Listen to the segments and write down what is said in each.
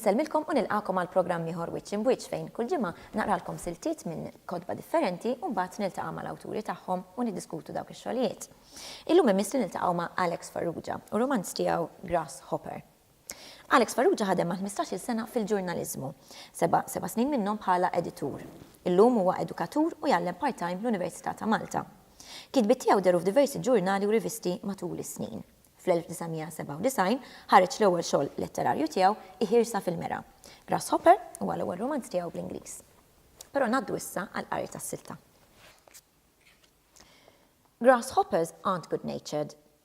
Insellmilkom u nilqakom għal programm ieħor wiċċ imbwiċċ fejn kull ġimgħa naqralkom siltiet minn kotba differenti u mbagħad niltaqa' mal-awturi tagħhom u niddiskutu dawk ix-xogħlijiet. Illum imiss li niltaqgħu ma' Alex Farrugia u romanz tiegħu Grasshopper. Alex Farrugia ħadem għal ħmistax-il sena fil-ġurnaliżmu, seba' seba' snin minnhom bħala editur. Illum huwa edukatur u jgħallem part-time l-Università ta' Malta. Kitbiet tiegħu dehru f'diversi ġurnali u rivisti matul is-snin. Fl-1997 ħareġ l-ewwel xogħol letterarju tiegħu, Iħirsa fil-Mera. Grasshopper huwa l-ewwel rumanz tiegħu bl-Ingliż. Però ngħaddu issa għall-qari tas-silta. Grasshoppers aren't good-natured.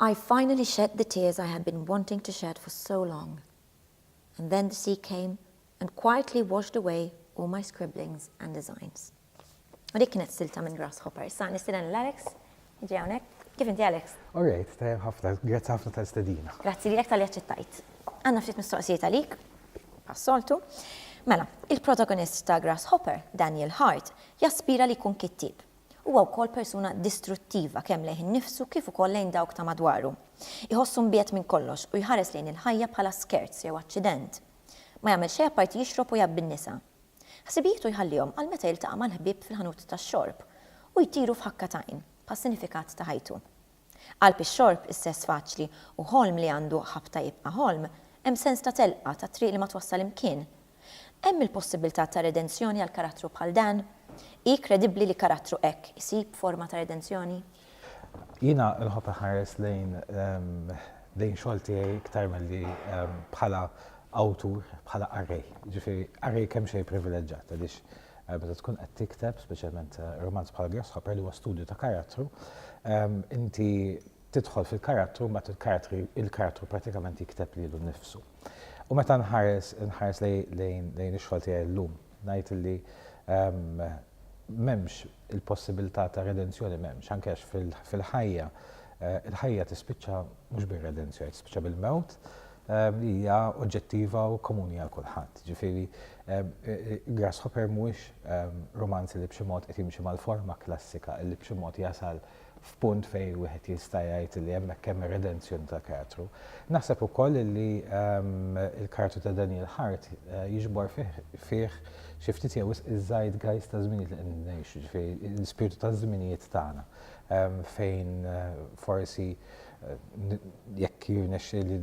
I finally shed the tears I had been wanting to shed for so long. And then the sea came and quietly washed away all my scribblings and designs. U dik kienet silta minn Grasshopper. Issa nistieden lil Alex jiġi hawnhekk. Kif inti Alex? Alright, tajjeb ħafna. Grazzi ħafna tal-istedina. Grazzi lilek talli aċċettajt. Għandna ftit mistoqsijiet għalik, bħas-soltu. Mela, il-protagonist ta' Grasshopper, Daniel Hart, jaspira li jkun kittieb. Huwa wkoll persuna distruttiva kemm lejh innifsu kif ukoll lejn dawk ta' madwaru. Iħossu mbiegħed minn kollox u jħares lejn il-ħajja bħala skerz jew aċċident. Ma jagħmel xejn apparti jixrob u jgħabbi n-nisa. Ħsibijietu jħallihom għal meta jiltaqa' mal-ħbieb fil-ħanut tax-xorb u jtiru f'ħakka t'għajn, bħas-sinifikat ta' ħajtu. Qalb ix-xorb, is-sess faċli, u ħolm li għandu ħabta jibqa' ħolm, hemm sens ta' telqa, ta' triq li ma twassal imkien. Hemm il-possibbiltà ta' redenzjoni għal karattru bħal dan? Hi kredibbli li karattru hekk isib forma ta' redenzjoni? Jiena nħobb inħares lejn lejn xogħol tiegħi iktar milli bħala awtur, bħala qarrej. Jiġifieri qarrej kemxejn privileġġat għaliex Meta tkun qed tikteb, speċjalment romanz bħal Grasshopper li huwa studju ta' karattru, inti tidħol fil-karattru mbagħad il-karattri il-karattru pratikament jikteb lilu nnifsu. U meta nħares nħares lejn lejn ix-xogħol tiegħi llum, ngħid illi m'hemmx il-possibilità ta' redenzjoni m'hemmx, anke għax fil-ħajja il-ħajja tispiċċa mhux bir-redenzjoni, tispiċċa bil-mewt, li hija oġġettiva u komuni għal kulħadd. Ġifieri, Grasshopper mhuwiex rumanz li b'xi mod qed jimxi mal-forma klassika, li b'xi mod jasal f'punt fejn wieħed jista' jgħid li hemmhekk hemm ir-redenzjoni tal-karattru. Naħseb ukoll li l-karattru ta' Daniel Hart jiġbor fih xi ftit jew wisq iż-zeitgeist taż-żminijiet li qegħdin ngħixu, ġifieri l-ispirtu taż-żminijiet tagħna fejn forsi jekk jirnexxieli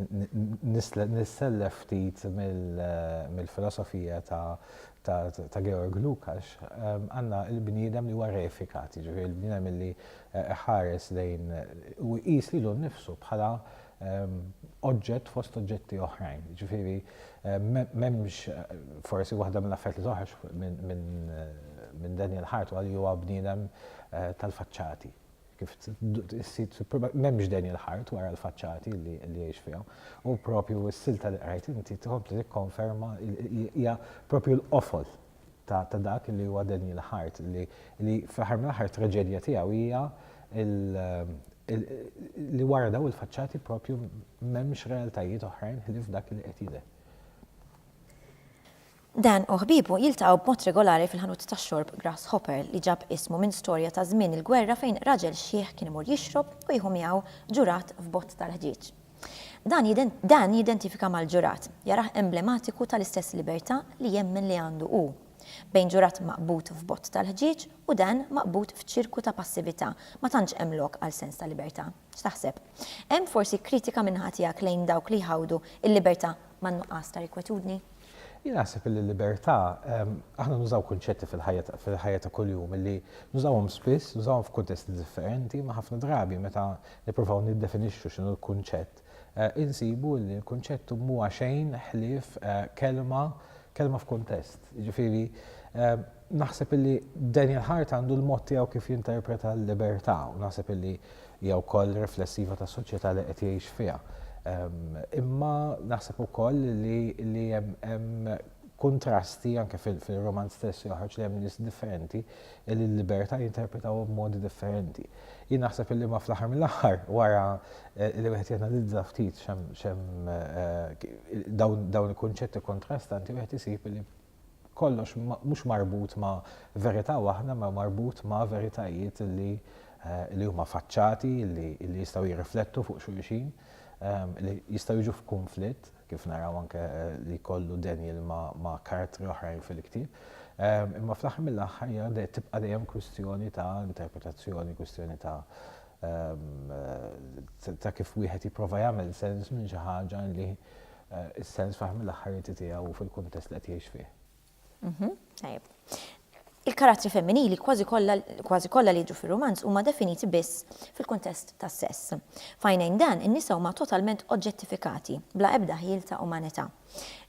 nissellef ftit mill-filosofija ta' Georg Lukács, għandna l-bniedem li huwa reifikat, jiġifieri l-bniedem li jħares lejn u jqis lilu nnifsu bħala oġġett fost oġġetti oħrajn. Jiġifieri m'hemmx forsi waħda mill-affarijiet li toħroġ minn Daniel Hart huwa li huwa bniedem tal-faċċati. kif s-sit m'hemmx dejn il-ħart wara l-faċċati li jgħix fiha. U propju s-silta li qrajt inti tħobb li tikkonferma hija propju l-qofol ta' dak li huwa dejn il-ħart li fl-aħħar mill-aħħar traġedja tiegħu hija li wara daw il-faċċati propju m'hemmx realtajiet oħrajn ħlief dak li qed jidher. Dan u ħbiebu jiltaqgħu b'mod regolari fil-ħanut tax-xorb Grasshopper, li ġab ismu minn storja ta' żmien il-gwerra fejn raġel xiħ kien imur jixrob u jieħu miegħu ġurat f'bott tal-ħġieġ. Dan jidentifikah mal-ġurat, jarah emblematiku tal-istess libertà li jemmen li għandu hu. Bejn ġurat maqbud f'bott tal-ħġieġ u dan maqbud f'ċirku ta' passività, ma tantx hemm lok għal sens ta' libertà. X'taħseb? Hemm forsi kritika min-naħa tiegħek lejn dawk li jħawdu l-libertà man-nuqqas ta' rikwetudni? Jien naħseb li l-libertà, aħna nużaw kunċetti fil-ħajja ta' kuljum li nużawhom spiss, nużawhom f'kuntesti differenti, imma ħafna drabi meta nippruvaw niddefinixxu x'inhu l-kunċett, insibu li l-kunċett mhuwa xejn ħlief kelma, kelma f'kuntest. Jiġifieri, Naħseb illi Daniel Hart għandu l-mod tiegħu kif jinterpreta l-libertà u naħseb illi hija wkoll riflessiva tas-soċjetà li qed jgħix fiha. Imma naħseb ukoll li hemm kuntrasti anke fil-romanz stess joħroġ li hemm nies differenti li l-libertà jinterpretaw b'modi differenti. Jien naħseb illi ma fl-aħħar mill-aħħar wara eh, li wieħed janalizza ftit xem eh, dawn il-kunċetti kontrastanti wieħed isib li kollox mhux marbut ma' verità waħda imma marbut ma' veritajiet li li huma faċċati, li li jistgħu jirriflettu fuq xulxin, li jistgħu jiġu f'kunflitt, kif naraw anke li jkollu Daniel ma' karattri oħrajn fil-ktieb. Imma fl-aħħar mill-aħħar hija tibqa' dejjem kwistjoni ta' interpretazzjoni, kwistjoni ta' ta' kif wieħed jipprova jagħmel sens minn xi ħaġa li is-sens f'aħħar mill-aħħar inti tiegħu u fil-kuntest li qed jgħix fih. Tajjeb. Il-karattri femminili kważi kollha kważi kollha li jiġu fir-rumanz huma definiti biss fil-kuntest tas-sess. F'għajnejn dan, in-nisa huma totalment oġġettifikati, bla ebda ħjiel ta' umanità.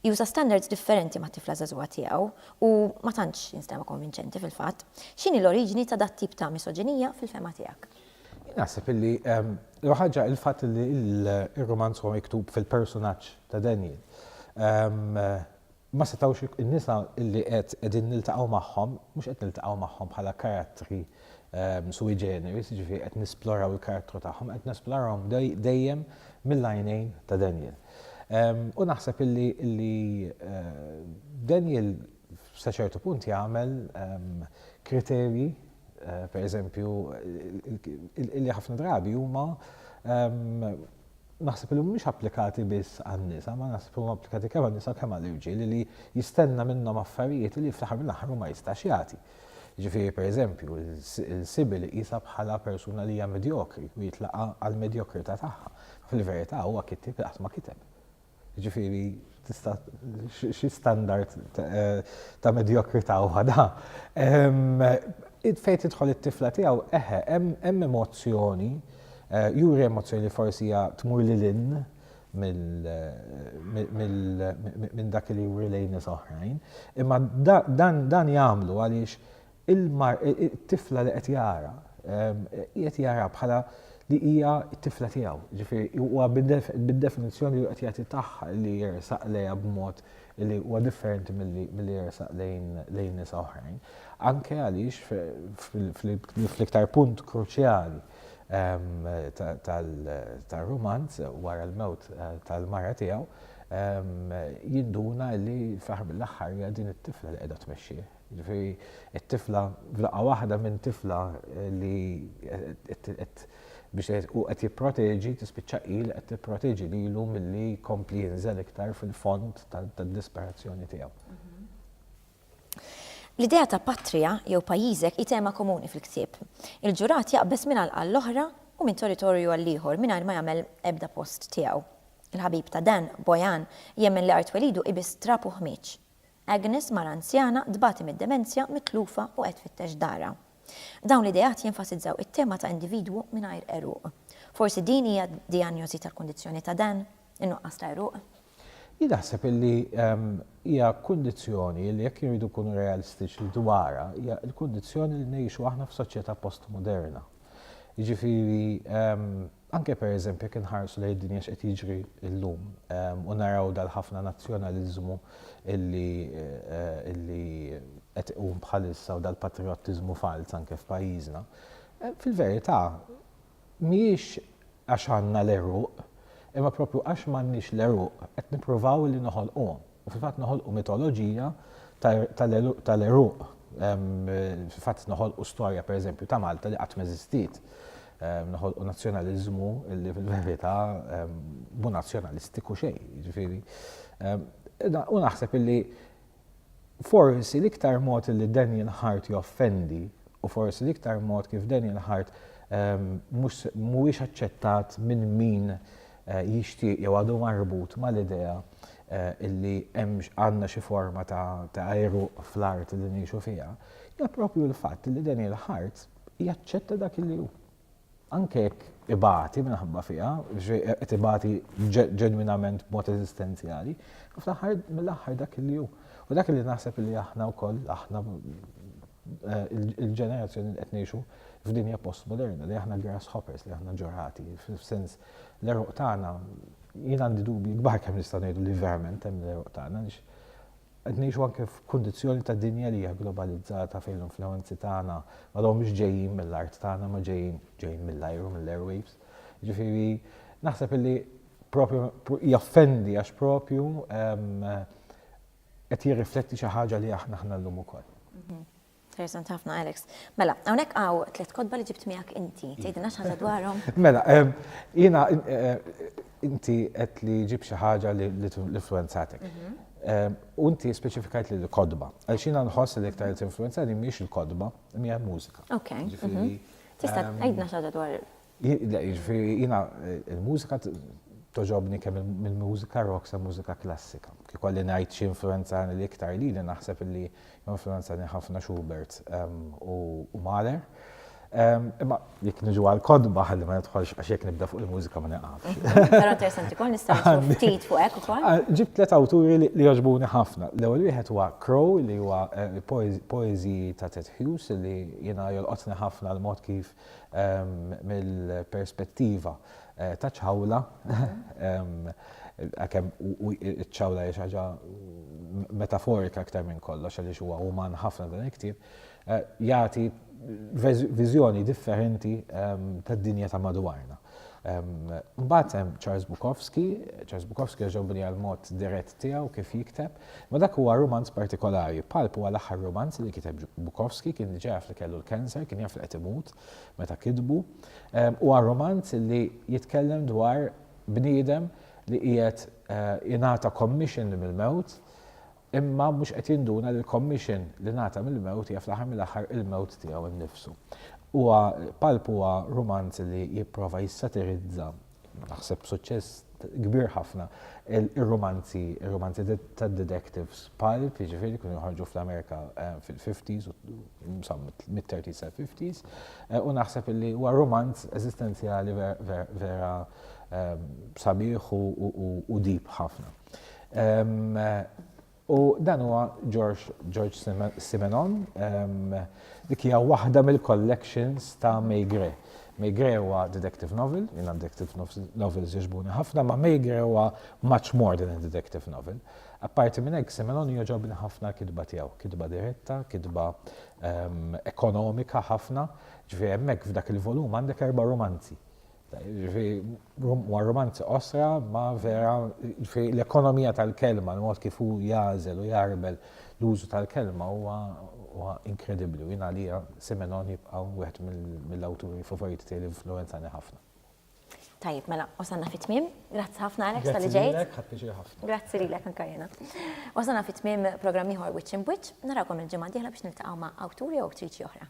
Juża standards differenti mat-tifla żagħżugħa tiegħu u ma tantx jinstema' konvinċenti fil-fatt. X'inhi l-oriġini ta' dat-tip ta' misoġinija fil-fehma tiegħek? Jien naħseb illi l-ewwel ħaġa il-fatt illi r-rumanz huwa miktub fil-persunaġġ ta' Daniel. Ma setgħux in-nisa illi qed qegħdin niltaqgħu magħhom, mhux qed niltaqgħu magħhom bħala karattri sui generis, jiġifieri qed nisploraw il-karattru tagħhom, qed nesplorawhom dejjem mill-għajnejn ta' Daniel. U naħseb illi Daniel sa ċertu punt jagħmel kriterji per eżempju, li ħafna drabi huma naħseb li mhumiex applikati biss għan-nisa, ma naħseb huma applikati kemm għan-nisa kemm għall-irġiel li jistenna minnhom affarijiet li fl-aħħar mill-aħħar ma jistax jagħti. Ġifieri per eżempju, il-sibil qisha bħala persuna li hija medjokri u jitlaqa' għall-medjokrità tagħha. Fil-verità huwa kittieb li qatt ma kiteb. Jiġifieri tista' xi standard ta' medjokrità huwa da. Fejn tidħol it-tifla tiegħu, eħe, hemm emozzjoni, juri emozzjoni li forsi hija tmur lil hinn minn dak li juri lejn nies oħrajn. Imma dan jagħmlu għaliex Il-mar, it-tifla li qed jara, qiegħed jara bħala li hija t-tifla tiegħu. Ġifieri huwa bid-definizzjoni li qed jagħti tagħha li jersaq lejha b'mod li huwa differenti milli jersaq lejn nisa oħrajn. Anke għaliex fl-iktar punt kruċjali tar-rumanz wara l-mewt tal-mara tiegħu jinduna li fl-aħħar mill-aħħar hija din it-tifla li qiegħda tmexxih. Jiġifieri t-tifla f'daqqa waħda minn tifla li qed biex hu qed jipproteġi tispiċċa hi li qed tipproteġi lilu milli jkompli jinżel iktar fil-fond tad-disperazzjoni tiegħu. L-idea ta' patria jew pajjiżek hi tema komuni fil-ktieb. Il-ġurat jaqbeż minn għalqa għall-oħra u minn territorju għall-ieħor mingħajr ma jagħmel ebda post tiegħu. Il-ħabib ta' Dan, Bojan, jemmen li art twelidu hi biss trab u ħmieġ. Agnes, mara anzjana, tbati mid-demenzja, mitlufa u qed tfittex darha. Dawn l-ideat jenfasizzaw it-tema ta' individwu mingħajr għeruq. Forsi din hija d-dijanjosi tal-kundizzjoni ta' Dan, in-nuqqas ta' għeruq? Jien naħseb li hija kundizzjoni li jekk irridu nkunu realistiċi dwarha hija l-kundizzjoni li ngħixu aħna f'soċjetà postmoderna. Jiġifieri Anke pereżempju jekk inħarsu lejn id-dinja x'qed jiġri llum u naraw dal-ħafna nazzjonaliżmu li qed iqum bħalissa u dal-patrijottiżmu falz anke f'pajjiżna, fil-verità mhijiex għax għandna l-għeruq imma proprju għax m'għandniex l-għeruq qed nippruvaw li noħolquhom. U fil-fatt noħolqu mitoloġija tal-għeruq. Fil-fatt noħolqu storja pereżempju ta' Malta li qatt m'eżistiet. Noħolqu nazzjonaliżmu li fil-verità mhu nazzjonalistiku xejn, jiġifieri. U naħseb li forsi l-iktar mod li Daniel Hart joffendi u forsi l-iktar mod kif Daniel Hart mhuwiex aċċettat minn min jixtieq jew għadu marbut mal-idea li hemm għandna xi forma ta' ta' għeruq fl-art li ngħixu fiha, hija proprju l-fatt li Daniel Hart jaċċetta dak li hu. Anke jekk ibati minħabba fiha, qed ibati ġenwinament b'mod eżistenzjali, fl-aħħar mill-aħħar dak li hu. U dak li naħseb li aħna wkoll, aħna il-ġenerazzjoni li qed ngħixu f'dinja postmoderna li aħna grasshoppers, li aħna ġorati, f'sens l-eruq tagħna jien għandi dubji kbar kemm nista' ngħidu li verament hemm l-eruq tagħna għaliex qed ngħixu anke f'kundizzjoni ta' dinja li hija globalizzata fejn l-influenzi tagħna ma mhux ġejjin mill-art tagħna ma ġejjin ġejjin mill-ajru mill-airwaves. Ġifieri naħseb li propju jaffendi għax propju ehm, qed jirrifletti xi ħaġa li aħna aħna llum ukoll. Interessanti ħafna, Alex. Mela, hawnhekk hawn tliet kotba li ġibt miegħek inti. Iva. Tgħidilna xi ħaġa dwarhom? Mela, ehm, jiena eh, inti qed li ġib xi ħaġa li influenzatek. Mhm. Ehm, u inti speċifikajt li l-kodba. Għal xina nħoss li iktar li tinfluenzani mhix il-kodba, mija mużika. Ok. Mhm. Tista' ehm, tgħidna xi ħaġa dwar Jiġifieri jiena l-mużika togħġobni kemm mill-mużika rock sa mużika klassika. Kif ikolli ngħid xi influwenzani l-iktar lili naħseb illi influwenzani ħafna Schubert u Mahler. Imma jekk niġu għall-kotba ħalli ma nidħolx għax jekk nibda fuq il-mużika ma nieqafx. Però interessanti wkoll nistgħu nsibu ftit fuq hekk ukoll. Ġibt tliet awturi li jogħġbuni ħafna. L-ewwel wieħed huwa Crow li huwa poeżiji ta' Ted Hughes li jiena jolqotni ħafna l-mod kif Mill-perspettiva ta' ċawla, għalkemm iċ-ċawla hija xi ħaġa metaforika aktar minn kollox għaliex huwa uman ħafna dan il-ktieb, jagħti viżjoni differenti tad-dinja ta' madwarna. Mbagħad hemm Charles Bukowski, Charles Bukowski għax ġobni għall-mod dirett tiegħu kif jikteb, Imma dak huwa rumanz partikolari. Pulp huwa l-aħħar rumanz li kiteb Bukowski, kien diġà jaf li kellu l-cancer, kien jaf li qed imut meta kitbu. Huwa rumanz li jitkellem dwar bniedem li qiegħed jingħata commission mill-mewt imma mhux qed jinduna li l-commission li ngħata mill-mewt hija fl-aħħar mill-aħħar il-mewt tiegħu nnifsu. Huwa Pulp huwa rumanz li jipprova jissatirizza naħseb b'suċċess kbir ħafna, ir-rumanzi, ir-rumanzi tad-detectives pulp, jiġifieri kienu joħorġu fl-Amerika eh, fil-50s, mid-30s sa 50s, eh, u naħseb li huwa rumanz eżistenzjali vera ehm, sabiħ u deep ħafna. Ehm, U dan huwa George George Simenon, dik hija waħda mill-collections ta' Maigret. Maigret huwa detective novel, jiena detective novels jogħġbuni ħafna, ma' Maigret huwa much more than a detective novel. Apparti minn hekk Simenon jogħġobni ħafna l-kitba tiegħu, kitba diretta, kitba ekonomika ħafna, ġifieri hemmhekk f'dak il-volum għandek erba' rumanzi. Huwa rumanz qosra ma vera l-ekonomija tal-kelma, l-mod kif hu jagħżel u jgħarbel l-użu tal-kelma huwa inkredibbli u jien għalija Simenon jibqa' wieħed mill-awturi favoriti tiegħi li influwenzani ħafna. Tajjeb, mela wasalna fit-tmiem. Grazzi ħafna Alex tal-li ġejt. Grazzi lilek, ħadt piċir ħafna. Grazzi lilek anke jiena. Wasalna fit-tmiem programm ieħor Wiċċ Imbwiċċ. Narawkom il-ġimgħa d-dieħla biex niltaqgħu ma' awtur jew awtriċi oħra.